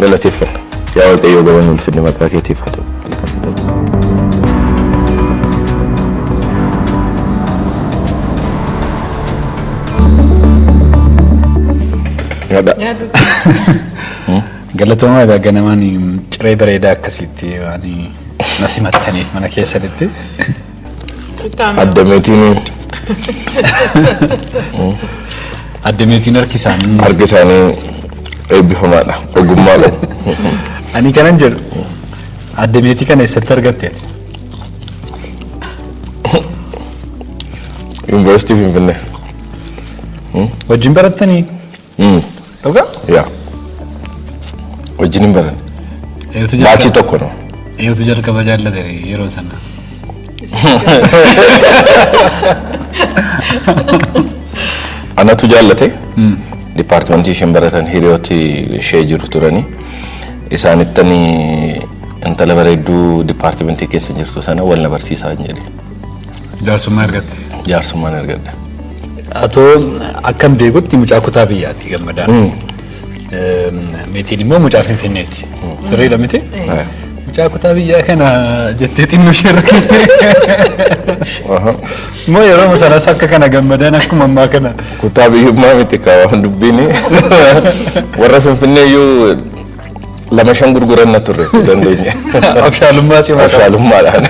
galateeffanna. Yaa Waaqayyoo galanni ulfinni maqaa keetiif haa ta'u. Nyaadha. Galatoomaa egaa ganamaan ciree bareedaa akkasiitti waan na simattaniif mana keessanitti. Addameetiin Addameetiin harki isaanii. harki isaanii eebbifamaadha. Ogummaa qabu. Ani kanan jedhu addameetii kana eessatti argatte? Yuunivarsiitii Finfinnee. Wajjin barattanii? Dhugaa? Yaa. Wajjin hin baran. Eeyotu Baachii jalqaba- tokko no. eeyotu jalqaba jaallate yeroo sana. Anatu jaallate. Dipaartimentii isheen baratan hiriyooti ishee jiru turanii. Isaanittan intala bareedduu dipaartimentii keessa jirtu sana wal na barsiisaa hin jedhe. Jaarsummaa argatte. Jaarsummaan argadha. Atoo akkan beekutti mucaa kutaa biyyaatti gammadaan. Eem, Meetiin immoo mucaa finfinneetti. Sirriidha miti? Mucaa kutaa biyyaa kana jettee xinnoo ishee rakkisee. Immoo yeroo sanas akka kana gammadaan akkuma ammaa kana. Kutaa biyyummaa miti kaa waan dubbiin warra finfinnee iyyuu lama shan gurguranna turre dandeenya. Abshaalummaa cimaa qaba. Abshaalummaadhaan.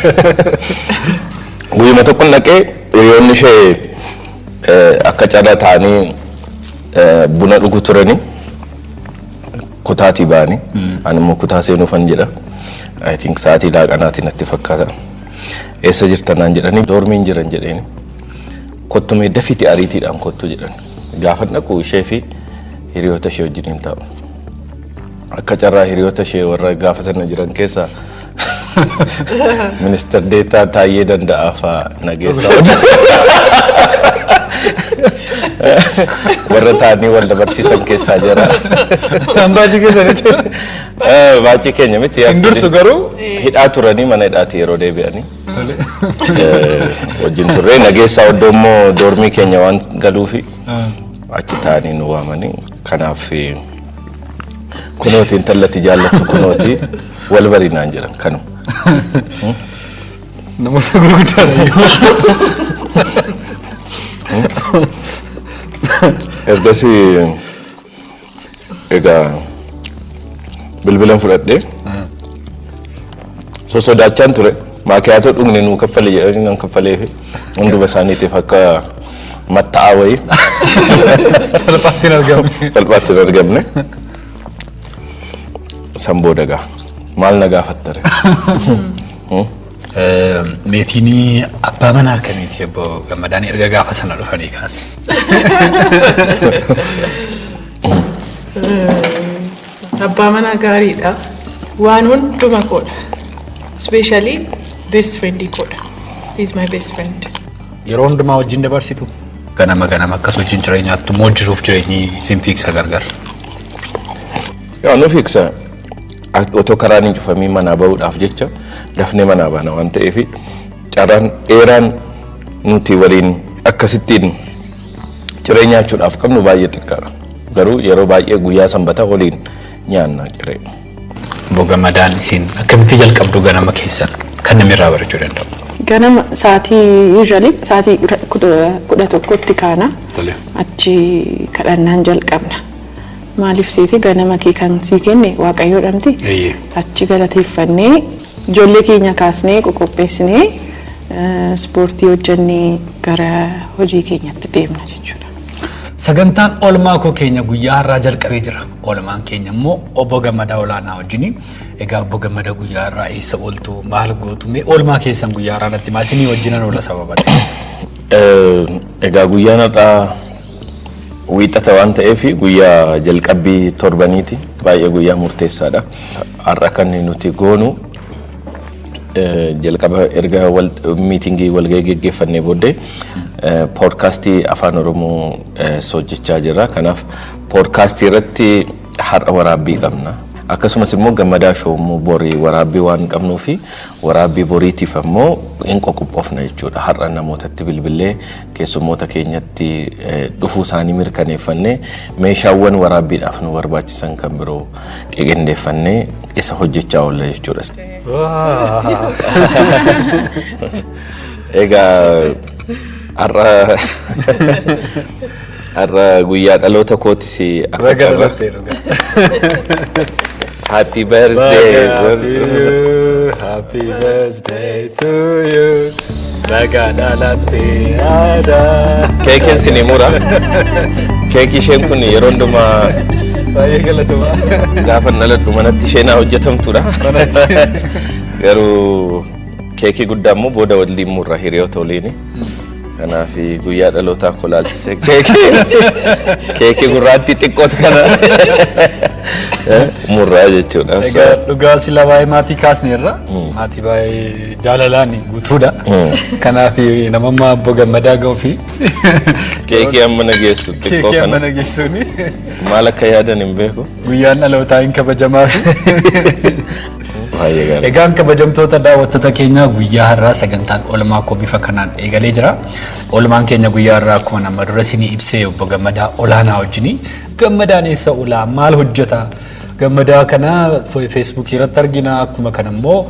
Guyyuma tokkon dhaqee Hiriyoonni ishee akka carraa taa'anii buna dhugu turani. Kutaatii ba'ani. Ani immoo kutaa seenuufan jedha. I think sa'aatii laaqanaati natti fakkaata. Eessa jirta naan jedhanii doormiin jiran jedheeni. Kottu mee dafiitii ariitiidhaan kottu jedhan. Gaafa dhaqu ishee fi hiriyoota ishee wajjin hin taa'u. Akka carraa hiriyoota ishee warra gaafa sana jiran keessaa Ministar Deetaa Taayyee Danda'aa faa nageessa warra taa'anii wal dabarsiisan keessaa jira. Isaan baajii keessanitti. Eh, Baacii keenya miti. Isin dursu garuu. Hidhaa turanii mana hidhaati yeroo deebi'anii. Tole. Eh, Wajjin turre nageessaa oddoo immoo doormii keenya waan galuufi Ah, achi taa'anii nu waamanii kanaaf eh, kunooti intalatti jaallattu kunooti. Wal bari naan jedhan kanuma. Namoota gurguddaa Ergasii egaa bilbilan fudhadhee sosodaachaan ture. Maakiyaatoo dhugne nuu kaffale jedhanii nan kaffalee fi hunduma isaaniitiif akka matta'aa wayii salphaatti hin argamne. salphaatti hin argamne. San booda gaa maal na gaafattare? Meetiin abbaa manaa akkamiiti obbo Gammadaan erga gaafa sana dhufanii kaase. Abbaa manaa gaariidha. Waan hunduma koodha. Ispeeshaalii beest firendii koodha. He is my best friend. Yeroo hundumaa wajjin dabarsitu. Ganama ganama akkas wajjin ciree nyaattu immoo jiruuf jireenyi isin fiigsa gargar. Yaa nu fiigsa otoo karaan hin cufamiin manaa bahuudhaaf jecha dafnee manaa baana waan ta'eef carraan dheeraan nuti waliin akkasittiin ciree nyaachuudhaaf qabnu baay'ee xiqqaadha. Garuu yeroo baay'ee guyyaa sanbata waliin nyaanna ciree. Bogamadaan isin akkamitti jalqabdu ganama keessan kan namni irraa barachuu danda'u. Ganama sa'aatii usually sa'aatii kudha tokkotti kaana. Tole. Achi kadhannaan jalqabna. Maaliif seetee ganama kee kan sii kenne waaqayyoo dhamti. Eeyyee. Achi galateeffannee ijoollee keenya kaasnee qoqopheessinee eh, ispoortii hojjennee gara hojii keenyatti deemna jechuudha. Sagantaan oolmaa koo keenya guyyaa har'aa jalqabee jira. Oolmaan keenya immoo obbo Gammadaa Olaanaa wajjini. Egaa obbo Gammadaa guyyaa har'aa eessa ooltu maal gootu mee oolmaa keessan guyyaa har'aa natti maa isinii wajjinan oola sababa ta'e. Egaa guyyaan har'aa wiixata waan ta'eef guyyaa jalqabbii torbaniiti. Baay'ee guyyaa murteessaadha. Har'a kan nuti goonu Jalqaba erga miitingii walgahii geggeeffannee booddee poodkaastii afaan oromoo hojjechaa jirra. Kanaaf poodkaastii irratti har'a waraabbii qabna. Akkasumas immoo gammadaa shoo immoo borii waraabbii waan qabnuu fi waraabbii boriitiif ammoo hin qoqophoofna jechuudha. Har'a namootatti bilbilee keessummoota keenyatti dhufuu isaanii mirkaneeffannee meeshaawwan waraabbiidhaaf nu barbaachisan kan biroo qiqindeeffannee isa hojjechaa oolla jechuudha. Egaa har'a har'a guyyaa dhaloota kootis akka Baga carraa dhalattee dhugaa. happy birthday Happy birthday to you. Bagaa dhalattee aadaa. Keekiin sin himura. Keekii isheen kun yeroo hundumaa Baay'ee galatomaa. gaafa dhaladhu manatti isheen haa hojjetamtudha. Garuu keekii guddaa immoo booda waliin murra hiriyoota waliini. Kanaaf guyyaa dhalootaa koo laalchisee keekii keekii gurraattii xiqqootu kana murraa jechuudha. So, Egaa dhugaa sila baay'ee maatii kaasneerra. Maatii baay'ee Jaalalaan guutuudha. Kanaaf nama ammaa abboo gammadaa ga'uu fi Keekii amma na geessu xiqqoo keekii amma kana na geessuuni maal akka yaadan hin beeku. guyyaan dhalootaa hin kabajamaa fi Baay'ee gaarii. Egaan kabajamtoota daawwattoota keenyaa guyyaa har'aa sagantaan oolmaa koo bifa kanaan eegalee jira. Oolmaan keenya guyyaa har'aa akkuma nama dura isinii ibsee obbo Gammadaa olaanaa wajjin gammadaan eessa oolaa maal hojjeta gammadaa kana feesbuukii irratti argina akkuma kana immoo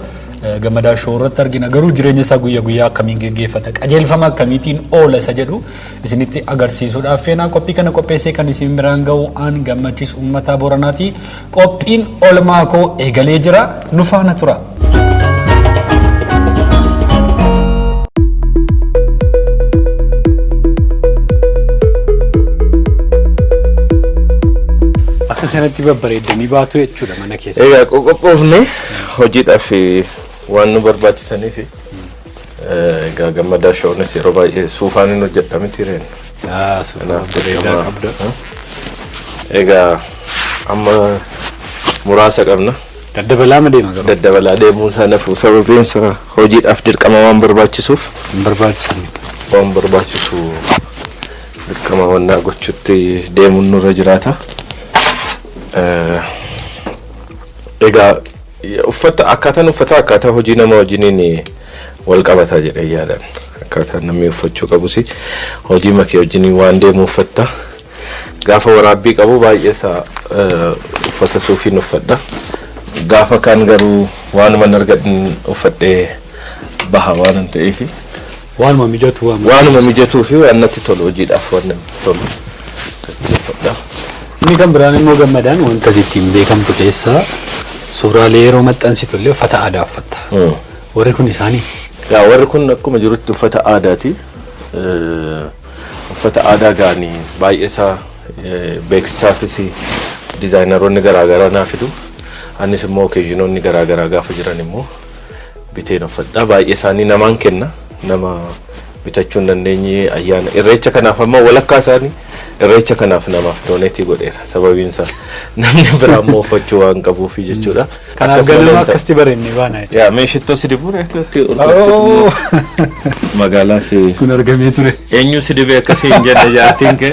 gammadaa shoo irratti argina garuu jireenya isaa guyya guyyaa akkamiin geggeeffata qajeelfama akkamiitiin oola isa jedhu isinitti agarsiisuudhaaf feenaa qophii kana qopheessee kan isin biraan ga'u aan gammachiis uummataa booranaati qophiin olmaa koo eegalee jira nu faana tura. Akka kanatti babbareeddanii baatu jechuudha mana keessa. Egaa qoqophoofne hojiidhaaf waan nu barbaachisaniif egaa gammadaa shoonis yeroo baay'ee suufaan hin hojjedha miti reen. Yaa suufaa bareedaa qabda. Egaa amma muraasa qabna. Daddabalaa ma deema garuu? Daddabalaa deemuu isaa nafu sababiin isaa hojiidhaaf dirqama waan barbaachisuuf. Hin barbaachisani. Waan barbaachisu dirqama wannaa gochuutti deemuun nurra jiraata. Egaa uffata akkaataan uffataa akkaataa hojii nama wajjiniin wal qabata jedhee yaadan. Akkaataan namni uffachuu qabus hojii makee wajjiniin waan deemu uffatta. Gaafa waraabbii qabu baay'ee isaa uffata suufiin uffadha. Gaafa kaan garuu waanuma argadhin uffadhee baha waan ta'eef. Waanuma mijatu waan natti Waanuma tolu. mijatuu fi waan natti tolu hojiidhaaf waan natti tolu gaggeeffadha. Inni kan biraan immoo gammadaan wanta ati ittiin beekamtu keessaa suuraalee yeroo maxxansitu illee uffata aadaa uffatta. Warri kun isaanii Yaa warri kun akkuma jirutti uffata aadaati. Eh, Uffata aadaa gaanii baay'ee isaa eh, beeksisaafis dizaayinaroonni garaagaraa naa fidu. Anis immoo okeezhinoonni garaagaraa gaafa jiran immoo biteen uffadha baay'ee isaanii namaan kenna nama bitachuu hin dandeenye ayyaana irreecha kanaaf amma walakkaa isaanii irreecha kanaaf namaaf dooneetii godheera sababiin isaa namni biraa immoo uffachuu waan qabuufi jechuudha. Kanaaf Akkasuma galma leentaa- akkasitti bareenne baana. Yaa mee shittoo si dibuun akkatti ol Oh! magaalaa si Kun argamee ture. eenyu si dibee akkasii hin jenne jaatiin kee.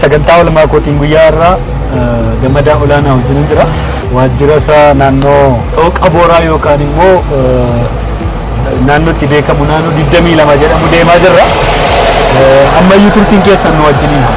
Sagantaa olmaa kootiin guyyaa irraa gammadaa olaanaa wajjin jira. Waajjira isaa naannoo dhooqa booraa yookaan immoo naannootti beekamu naannoo 22 jedhamu deemaa jirra. Ammayyuu turtiin keessan nu wajjiniin haa.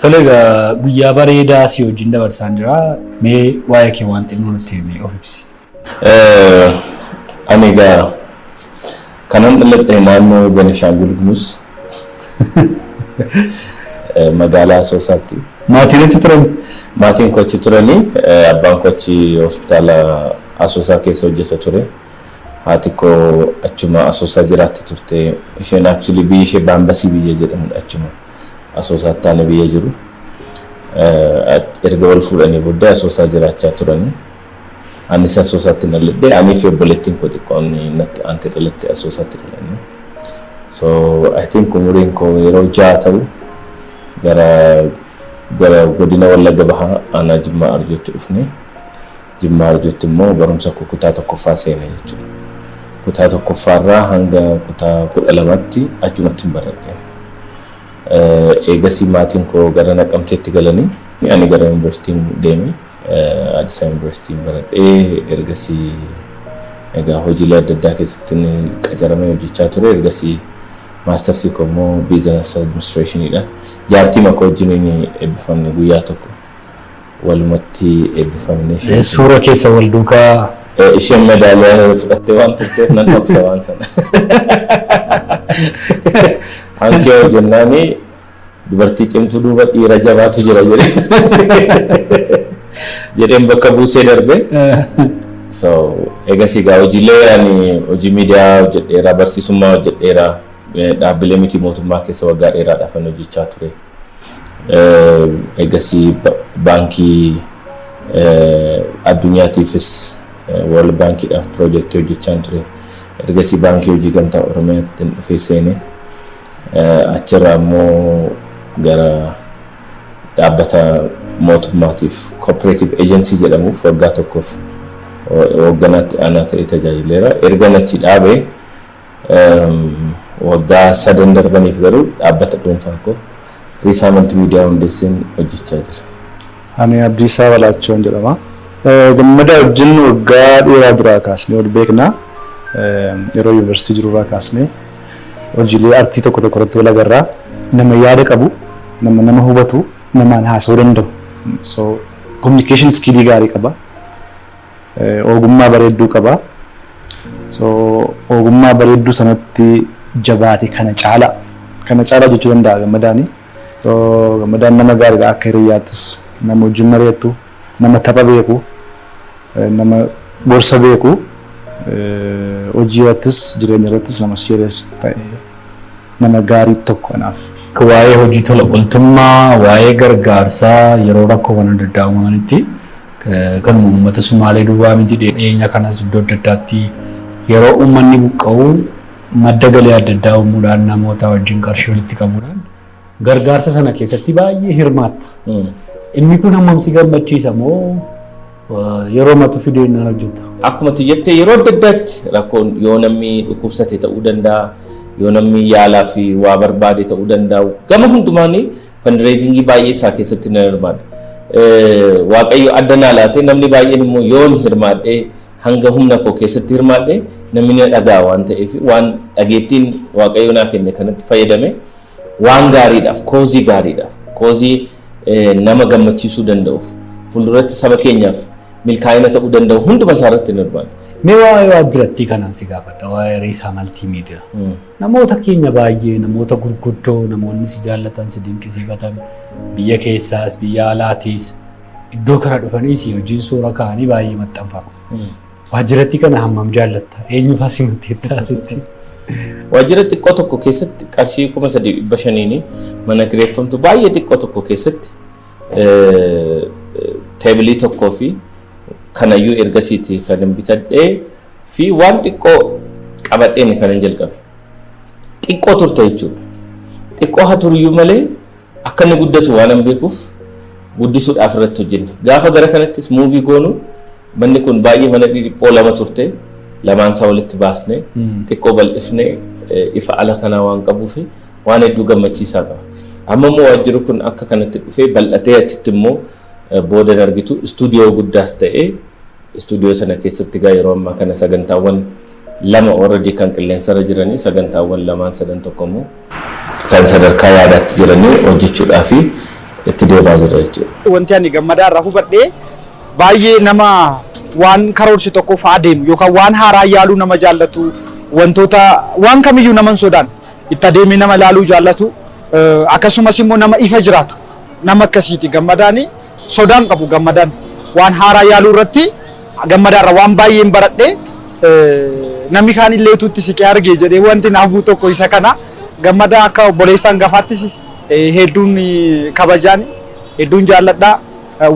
Tole egaa guyyaa bareedaa si wajjin dabarsaan jira. Mee waa'ee kee waan xinnoo nutti himi of ibsi. Eh, Ani egaa kanan dhaladhe naannoo Benishaangul Gumuz eh, magaalaa Asoosaatti. Maatiin achi turan? Maatiin koo achi turanii eh, abbaan koo achi hospitaala Asoosaa keessa hojjeta ture. Haati koo achuma Asoosaa jiraatti turte. Isheen actually biyyi ishee Baambasii biyya jedhamudha achuma. asoosaa ittaana biyya jiru. Erga wal fuudhanii booddee asoosaa jiraachaa turanii. Anis asoosaatti na ladhee anii fi obboleettiin koo xiqqoon natti aanti dhalatte asoosaatti dhalanne. So I think umuriin koo yeroo ja'a ta'u gara gara godina Wallagga Bahaa aanaa Jimmaa Arjootti dhufne. Jimmaa Ijotti immoo barumsa koo kutaa tokkoffaa seene jechuudha. Kutaa tokkoffaa irraa hanga kutaa kudha lamaatti achumattin baradhe. Eegasii maatiin koo gara Naqamteetti galanii ani gara yuunivarsiitiin deeme. Addis Yuunivarsiitiin baradhee ergasii egaa hojiilee adda addaa keessattin qacaramee hojjechaa ture. Ergasii maastarsii koo immoo biizinasi administreeshiniidhaan jaartiima koo wajjiniin eebbifamne guyyaa tokko. walumatti eebbifamne. Suura keessa wal duukaa. Isheen medaaliyaa fudhattee waan turteef nan dhoksa waan sana. Hankee hojjennaani dubartii cimtuu duuba dhiira jabaatu jira jedhee jedheen bakka buusee darbe. So egas egaa hojiilee ani hojii miidiyaa hojjedheera barsiisummaa hojjedheera dhaabbilee miti mootummaa keessa waggaa dheeraadhaaf hojjechaa ture. Eegasii baankii addunyaatiifis World Baankiidhaaf piroojeektii hojjechaan ture. Ergasii baankii hojii gamtaa Oromiyaatti dhufee seene. Achirraa immoo gara dhaabbata mootummaatiif kooppereetiif eejensii jedhamuuf waggaa tokkoof hoogganaatti aanaa ta'ee tajaajileera. Ergan achi dhaabee Waggaa sadan darbaniif garuu dhaabbata dhuunfaa koo Riisaa Maltiimiidiyaa hundeesseen hojjechaa jira. Ani Abdiisaa Balaachoon jedhama. Gammadaa wajjin waggaa dheeraa duraa kaasnee wal beekna. Yeroo yuunivarsiitii jirurraa kaasnee hojiilee artii tokko tokko irratti wal agarra. Nama yaada qabu, nama nama hubatu, namaan haasa'uu danda'u. So communication skill gaarii qaba. Ogummaa bareedduu qaba. So ogummaa bareedduu sanatti jabaate kana caalaa kana caalaa jechuu danda'a gammadaani. So gammadaan nama gaariidha akka hiriyyaattis nama wajjin mari'attu nama tapha beeku nama gorsa beeku hojii irrattis jireenya irrattis nama serious ta'e nama gaarii tokko anaaf. Waa'ee hojii tola ooltummaa, waa'ee gargaarsaa yeroo rakkoowwan adda addaa uumamanitti Kanuma uummata Sumaalee duwwaa miti dhiyeenya kanas iddoo adda addaatti yeroo uummanni buqqa'u madda galii adda addaa uumuudhaan namootaa wajjin qarshii walitti qabuudhaan gargaarsa sana keessatti baay'ee hirmaatta. Inni kun hammam si gammachiisa moo yeroo matu fideennaan hojjetta? Akkuma ati jette yeroo adda addaatti rakkoon yoo namni dhukkubsate ta'uu danda'a, yoo namni yaalaa fi waa barbaade ta'uu danda'a. Gama hundumaan Fandireezingii baay'ee isaa keessatti nan hirmaadha. Waaqayyo adda naa laatee namni baay'een immoo yoon hirmaadhee hanga humna koo keessatti hirmaadhee namni na dhaga'a waan ta'eef waan dhageettiin waaqayyo naa kenne kanatti fayyadame waan gaariidhaaf koozii gaariidhaaf koozii nama gammachiisuu danda'uuf fuulduratti saba keenyaaf milkaa'ina ta'uu danda'u hunduma isaa irratti hin hirmaadha. Mee waa'ee waajjirattii kanaan si gaafadha waa'ee Riisaa Maltiimiidiyaa. Namoota keenya baay'ee namoota gurguddoo namoonni si jaallatan si dinqisiifatan biyya keessaas biyya alaatiis iddoo kana dhufanii si wajjin suura ka'anii baay'ee maxxanfama. Waajjiratti kana hammam jaallatta? Eenyu fa'aa si maxxanfata sitti? Waajjira xiqqoo tokko keessatti qarshii kuma sadii dhibba shaniin mana kireeffamtu baay'ee xiqqoo tokko keessatti teebilii tokkoo fi kanayyuu ergasiiti kan hin bitadhee fi waan xiqqoo qabadheen kanan jalqabe. Xiqqoo turte jechuudha. Xiqqoo haa turiyyuu malee akka inni guddatu waan hin beekuuf guddisuudhaaf irratti hojjenne. Gaafa gara kanattis muuvii goonu manni kun baay'ee mana dhiphiphoo lama turte lamaan isaa walitti baasne xiqqoo bal'ifne ifa ala kanaa waan qabuuf waan hedduu gammachiisaa qaba. Amma immoo waajjirri kun akka kanatti dhufee bal'atee achitti immoo booda argitu istuudiyoo guddaas ta'ee Istuudiyoo sana keessatti egaa yeroo ammaa kana sagantaawwan lama already kan qilleensarra jiranii sagantaawwan lamaan sadan tokko immoo kan sadarkaa yaadaatti jiranii hojjechuudhaa fi itti deemaa jirra jechuudha. Wanti ani gammadaa irraa hubadhee baay'ee nama waan karoorse tokkoof adeemu yookaan waan haaraa yaaluu nama jaallatu wantoota waan kamiyyuu nama hin sodaan itti adeemee nama ilaaluu jaallatu akkasumas immoo nama ifa jiraatu nama akkasiiti gammadaani. sodaa hin qabu gammadaan waan haaraa yaaluu irratti gammadaarra waan baay'een baradhe namni kaan illee utuu itti siqee arge jedhee wanti naaf bu'u tokko isa kana gammadaa akka obboleessaan gafaattis hedduun kabajaan hedduun jaalladhaa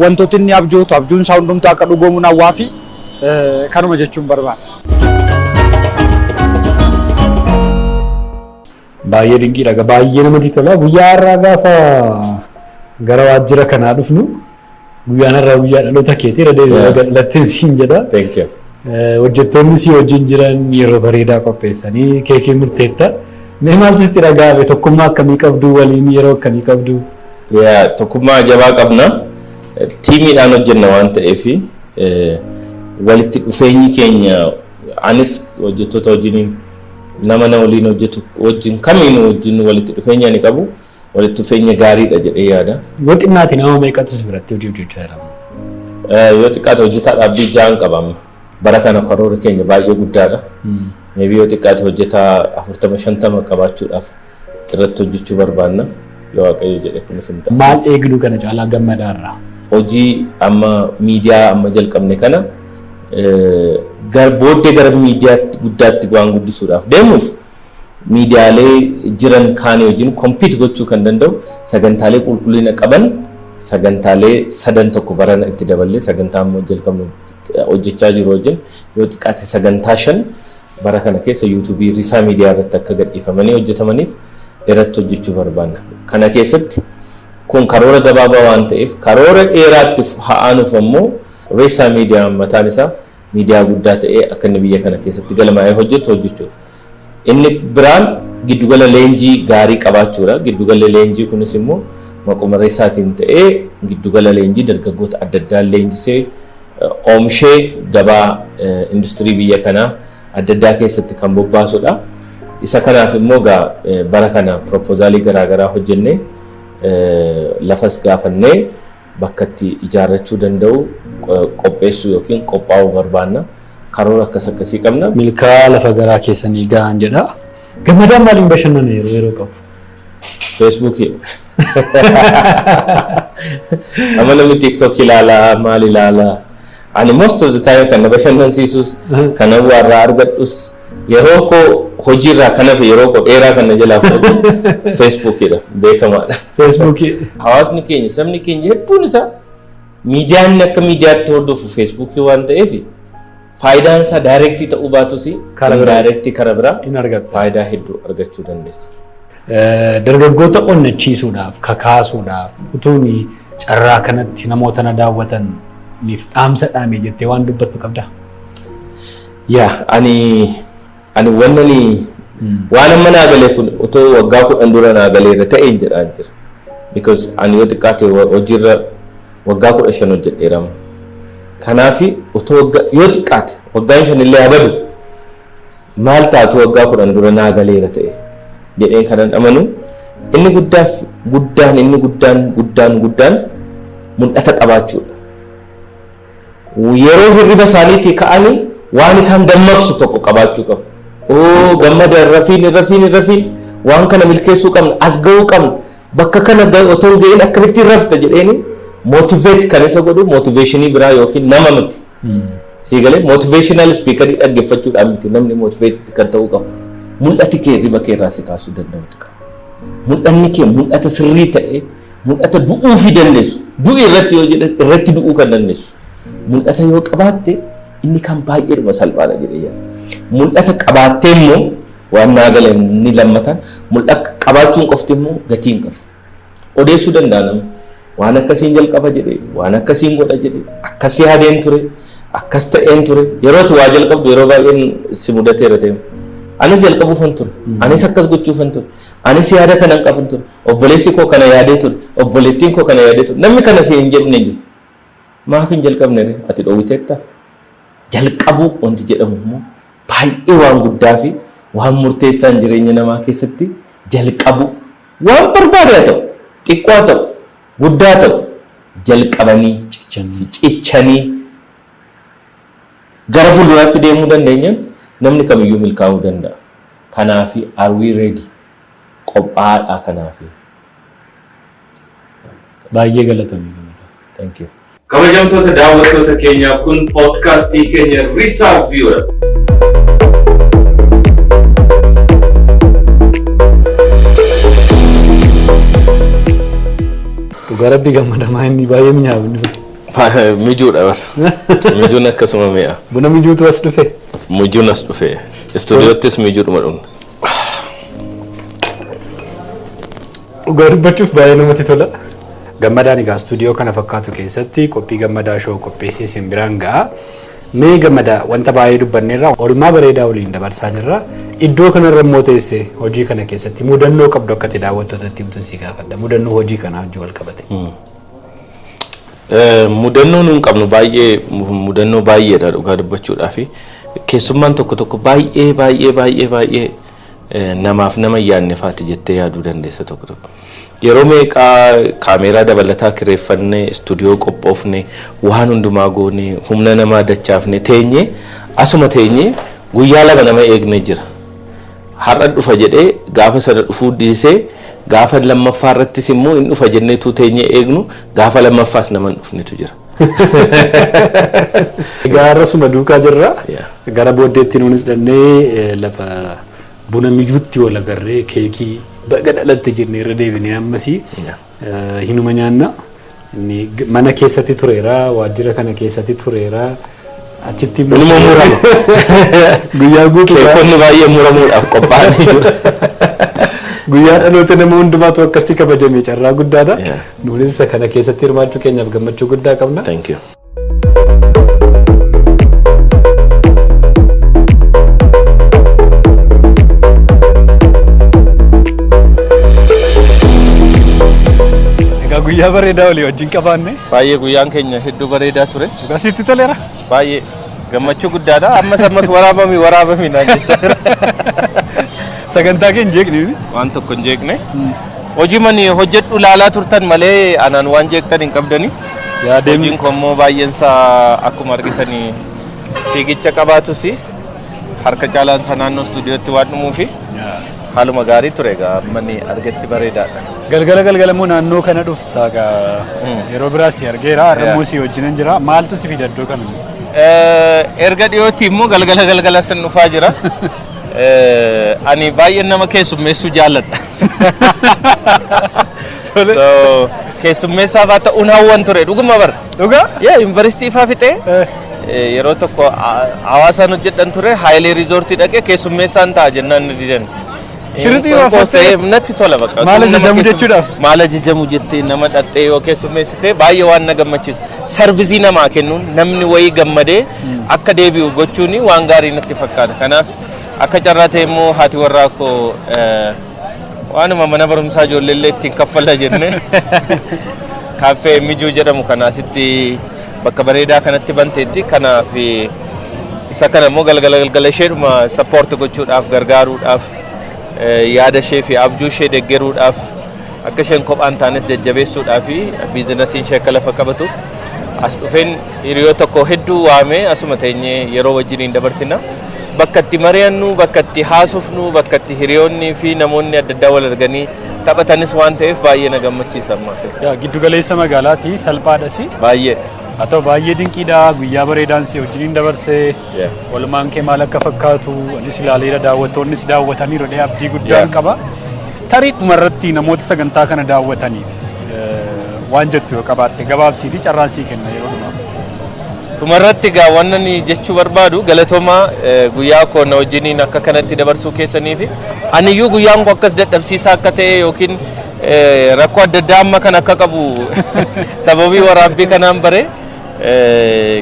wantooti inni abjootu abjuun isaa hundumtuu akka dhugoomuun hawwaa fi kanuma jechuun barbaada. Baay'ee dinqiidha egaa baay'ee namatti tola. Guyyaa har'aa gaafa gara waajjira kanaa dhufnu guyyaan har'aa guyyaa dhaloota keeti irra deebi'ee Yeah. baga dhalatteen siin jedha. Thank you. Eh, Hojjettoonni si wajjin jiran yeroo bareedaa qopheessanii keekii murteetta. Mee maaltu sitti dhaga'ame tokkummaa akkamii qabdu waliin yeroo akkamii qabdu? Yaa tokkummaa jabaa qabna. Tiimiidhaan hojjenna waan ta'eef walitti dhufeenyi keenya Anis hojjettoota wajjin nama na waliin hojjetu wajjin kamiinuu wajjin walitti dhufeenya ni qabu. Walitti dhufeenya gaariidha jedhee yaada. Yoo xinnaate nama meeqatu si biratti hojii hojjechaa jira? Yoo xiqqaate hojjetaa dhaabbii ja'an qaba amma. Bara kana karoorri keenya baay'ee guddaadha. Meebii yoo xiqqaate hojjetaa afurtama shantama qabaachuudhaaf Irratti hojjechuu barbaanna. Yoo Waaqayyo jedhe kunis hin ta'a. Maal eegnu kana caalaa gammadaa irraa? Hojii amma miidiyaa amma jalqabne kana booddee gara miidiyaatti guddaatti waan guddisuudhaaf deemuuf miidiyaalee jiran kaanii wajjin kompiit gochuu kan danda'u sagantaalee qulqullina qaban sagantaalee sadan tokko barana itti daballee sagantaa amma jalqabnu hojjechaa jiru wajjin yoo xiqqaate sagantaa shan Bara kana keessa YouTube Risaa Media irratti akka gadhiifamanii hojjetamaniif irratti hojjechuu barbaanna. Kana keessatti kun karoora gabaabaa waan ta'eef karoora dheeraatti ha'aanuuf ammoo Risaa Media mataan isaa miidiyaa guddaa ta'ee akka inni biyya kana keessatti galmaa'ee hojjetu hojjechuudha. Inni biraan giddugala leenjii gaarii qabaachuudha. Giddugalli leenjii kunis immoo maquma Risaatiin ta'ee giddugala leenjii dargaggoota adda addaa leenjisee oomshee gabaa industirii biyya kanaa adda addaa keessatti kan bobbaasudha. Isa kanaaf immoo egaa bara kana pirooppoozaalii garaagaraa hojjennee lafas gaafannee bakka itti ijaarrachuu danda'u qopheessuu yookiin qophaa'uu barbaanna. Karoora akkas akkasii qabna. Milkaa lafa garaa keessanii gahaan jedha. Gammadaan maaliin bashannana yeroo yeroo qabu? Feesbuukii. Amma namni TikTok ilaalaa maal ilaalaa. Ani most of the time kan na bashannansiisus kan hawwaa irraa argadhus yeroo koo hojii irraa kan hafe yeroo koo dheeraa kan na jalaa fudhatu Feesbuukiidha beekamaadha. Feesbuukii. Hawaasni keenya sabni keenya hedduun isaa miidiyaa inni akka miidiyaatti hordofu Feesbuukii waan ta'eef Faayidaan isaa daayirektii ta'uu baatus Kara biraa. daayirektii kara biraa hin argatta. faayidaa hedduu argachuu dandeessa. Eh, Dargaggoota onnachiisuudhaaf, kakaasuudhaaf, utuun carraa kanatti namoota na daawwataniif dhaamsa dhaame jettee waan dubbattu qabdaa? Yaa ani Ani wannani waan amma naa galee kun otoo waggaa kudhan dura naa galeera ta'een jedhaan jira. Because ani yoo xiqqaate wa- hojiirra waggaa kudha shan hojjedheera amma. Kanaafi otoo waggaa yoo xiqqaate waggaan shan illee haa badu maal taatu waggaa kudhan dura naa galeera ta'e jedheen kanan amanu inni guddaaf guddaan inni guddaan guddaan guddaan mul'ata qabaachuudha. Yeroo hirriba isaaniitii ka'anii waan isaan dammaqsu tokko qabaachuu qabu. Oo gammada hin rafiin hin rafiin hin rafiin waan kana milkeessuu qabna as ga'uu qabna bakka kana otoo hin ga'in akkamitti hin rafta jedheeni mootiveet kan isa godhu mootiveeshinii biraa yookiin nama miti. Sii galee mootiveeshinaal ispiikarii dhaggeeffachuudhaan miti namni mootiveetii kan ta'uu qabu. Mul'ati kee hirriba kee irraa si kaasuu danda'utu qaba. Mul'anni kee mul'ata sirrii ta'ee Mul'ata du'uufi dandeessu. Du'i irratti yoo jedhan irratti du'uu kan dandeessu. Mul'ata yoo qabaatte inni kan baay'eedhuma salphaadha jedhee yaada. Mul'ata qabaattee immoo waan naa gale inni lammataan mul'ata qabaachuun qofti immoo gatii hin qabu. Odeessuu danda'a namni. Waan akkasiin jalqaba jedhee waan akkasiin godha jedhee akkas yaadeen ture akkas ta'een ture yeroo waa jalqabdu yeroo baay'een si mudateera ta'e. Anis jalqabuufan ture. Anis akkas gochuufan ture. Anis yaada kanan qaban ture. Obboleessi koo kana yaadee ture, obboleettiin koo kana yaadee ture. Namni kana siin hin jedhin hin jiru. Maaf hin jalqabne ree? Ati dhoowwiteetta? Jalqabuu wanti jedhamu immoo baay'ee waan guddaa fi waan murteessaan jireenya namaa keessatti jalqabuu. Waan barbaade haa ta'u, xiqqoo haa ta'u, guddaa haa ta'u, jalqabanii, cichanii gara fuulduraatti deemuu dandeenyaan namni kamiyyuu milkaa'uu danda'a. Kanaaf are we ready? qophaa'aadha kanaafi. Baay'ee galatomi Gamada. Thank you. Kabajamtoota daawwattoota keenyaa kun podcast keenya Risaa Viewer. Dhugaa rabbi gammadamaa inni baay'ee minyaabni. Mijuudha bar. Mijuun akkasuma mi'a. Buna mijuutu as dhufe. Mijuun as dhufe. Istuudiyoottis mijuudhuma dhumna. Dhugaa dubbachuuf baay'ee namatti tola. Gammadaan egaa istuudiyoo kana fakkaatu keessatti qophii gammadaa shoo qopheessee isin biraan ga'a. Mee gammadaa wanta baay'ee dubbanneerra oolmaa bareedaa waliin dabarsaa jirra. Iddoo kanarra immoo teessee hojii kana keessatti mudannoo qabdu akka itti daawwattootatti himtuun si gaafadha. Mudannoo hojii kanaa wajjin wal qabate. Mudannoo nuun qabnu baay'ee mudannoo baay'eedha dhugaa dubbachuudhaaf. Keessummaan tokko tokko baay'ee baay'ee baay'ee baay'ee namaaf nama hin yaadne faati jettee yaaduu dandeessa tokko tokko. Yeroo meeqaa kaameeraa dabalataa kireeffannee, istuudiyoo qophoofne, waan hundumaa goone, humna namaa dachaafne teenyee asuma teenyee guyyaa lama nama eegne jira. Har'a dhufa jedhee gaafa sana dhufuu dhiisee gaafa lammaffaa irrattis immoo hin dhufa jennee utuu teenyee eegnu Gaafa lammaffaas nama hin dhufnetu jira. Egaa rasuma duukaa jirra. Yeah. Gara booddeetti nuunis dhannee eh, lafa buna mijuutti wal agarree keekii baga dhalatte jennee irra deebinee ammasii Yeah. eh, hinuma nyaanna. Inni g- mana keessatti tureera, waajjira kana keessatti tureera. Achitti immoo Inuma murama. guyyaa guutuu Keekonni baay'ee muramuudhaaf qophaa'anii jiru. guyyaa dhaloota nama hundumaatu akkasitti kabajame carraa guddaadha. Yeah. Nuunis isa kana keessatti hirmaachuu keenyaaf gammachuu guddaa qabna. Thank you. Egaa guyyaa bareedaa olii wajjin qabaanne. Baay'ee guyyaan keenya hedduu bareedaa ture. Dhugaa sitti toleera? Baay'ee gammachuu guddaadha. Ammas ammas waraabami waraabami naan jechaa jira. Sagantaa kee hin jeeqne. Waan tokko hin jeeqne. Hojii mani hojjedhu laalaa turtan malee anaan waan jeeqtan hin qabdani. Yaa deemni. Hojiin koo immoo baay'een isaa akkuma argitani fiigicha qabaatus harka caalaan isaa naannoo istuudiyootti waan dhumuufi haaluma gaarii ture egaa mani argetti bareedaadha. Galgala galgala immoo naannoo kana dhuf Taaga yeroo biraa si argeera Yeah. har'ammoo si wajjinan jira maaltu si fida iddoo kana Eh, erga dhiyootti immoo galgala galgala sin dhufaa jira. Eh, Ani baay'een nama keessummeessuu jaalladha. So, Keessummeessaa fa'aa ta'uun hawwan ture dhuguma bara. dhugaa Yaa yuunivarsiitii fa'aa fixee Eh, eh, yeroo tokko ha- hawaasaan hojjedhan ture haayilee riizoortii dhaqee keessummeessaan ta'a jennaan ni didan. Shirixii Qoos baafattee ta'eef natti tola bakka. Maal Nama ajajamu keessum- jechuudhaaf? Maal ajajamu jettee nama dhaxxee yoo keessummeessite baay'ee waan na gammachiisu. Sarvisii namaa kennuun namni wayii gammadee akka deebi'u gochuun waan gaarii natti fakkaata. Kanaaf akka carraa ta'e immoo haati warraa koo eh, waanuma mana barumsaa ijoollee illee ittiin kaffalla jenne kaaffee mijuu jedhamu kana asitti Bakka bareedaa kanatti banteetti kanaaf isa kana immoo galgala galgala isheedhuma sappoorti gochuudhaaf gargaaruudhaaf yaada ishee fi abjuu ishee deggeruudhaaf akka isheen kophaan taanes jajjabeessuudhaa fi biizinasiin ishee akka lafa qabatuuf as dhufeen hiriyoo tokko hedduu waamee asuma teenyee yeroo wajjiniin dabarsina. Bakka itti mari'annu, bakka itti haasofnu, bakka itti hiriyoonnii fi namoonni adda addaa wal arganii Taphatanis waan ta'eef baay'ee na gammachiisa ammaa keessa. Yaa giddu galeessa magaalaati salphaadhas. Baay'ee. Haa ta'u baay'ee dinqiidha guyyaa bareedaan si wajjiniin dabarse Yeah. olmaan kee maal akka fakkaatu anis ilaaleera daawwattoonnis daawwataniiru dhee abdii guddaan Yeah. qaba. Tarii dhumarratti namoota sagantaa kana daawwataniif eh, waan jettu yoo qabaatte gabaabsiitii carraan sii kenna yeroo dhumaaf. Dhumarratti egaa wanna ni jechuu barbaadu galatomaa guyyaa koo na wajjiniin akka kanatti dabarsuu keessanii fi aniyyuu guyyaan koo akkas dadhabsiisaa akka ta'e yookiin rakkoo adda addaa amma kan akka qabu sababii waraabbii kanaan bare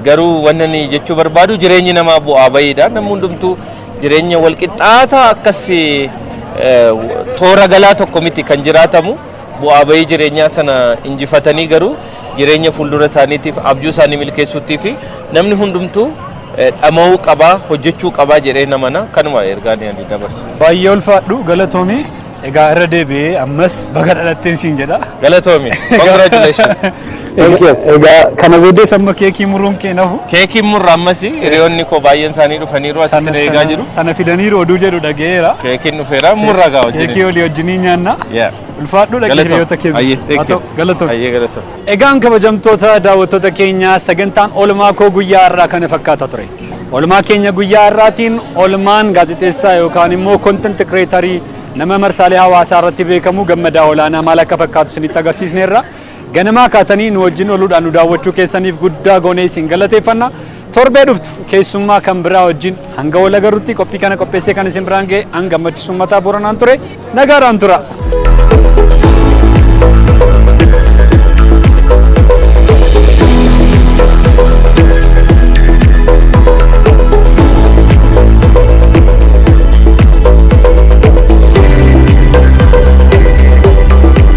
garuu wanna ni jechuu barbaadu jireenyi namaa bu'aa bayiidha namni hundumtuu jireenya walqixxaataa akkas toora galaa tokko miti kan jiraatamu. Bu'aa ba'ii jireenyaa sana injifatanii garuu jireenya fuuldura isaaniitiif abjuu isaanii milkeessuuttii fi namni hundumtuu dhama'uu qabaa hojjechuu qabaa jedhee namana kanuma ergaa ni ani dabarsu. Baay'ee ulfaadhu galatoomii egaa irra deebi'ee ammas baga dhalatteen siin jedha. Galatoomi. Congratulations. Thank you. Egaa kana booddees amma keekii muruun kee nahu. Keekiin murra ammas hiriyoonni koo baay'een isaanii dhufaniiru asitti Sana- na eegaa sana- jiru. Sana fidaniiru oduu jedhu dhaga'eera. Keekiin dhufeera murra gaa Keekii wajjin. olii wajjinii nyaanna. Yeah. Ulfaadhu dhaqee hiriyoota kee. Ayyee, Haa thank you. ta'u, Galatoom. Ayyee, galatoom. Egaan kabajamtoota daawwattoota keenyaa sagantaan oolmaa koo guyyaa har'aa kana fakkaata ture. Oolmaa keenya guyyaa har'aatiin oolmaan gaazexeessaa yookaan immoo kontent kireetarii nama marsaalee hawaasaa irratti beekamu gammadaa olaanaa maal akka fakkaatu isinitti agarsiisneerra. Ganamaa kaatanii nu wajjin ooluudhaan nu daawwachuu keessaniif guddaa goonee isin galateeffanna. Torbee dhuftu keessummaa kan biraa wajjin hanga wal agarrutti qophii kana qopheessee kan isin biraan ga'e an gammachiisu mataa booranaan ture. Nagaadhaan tura.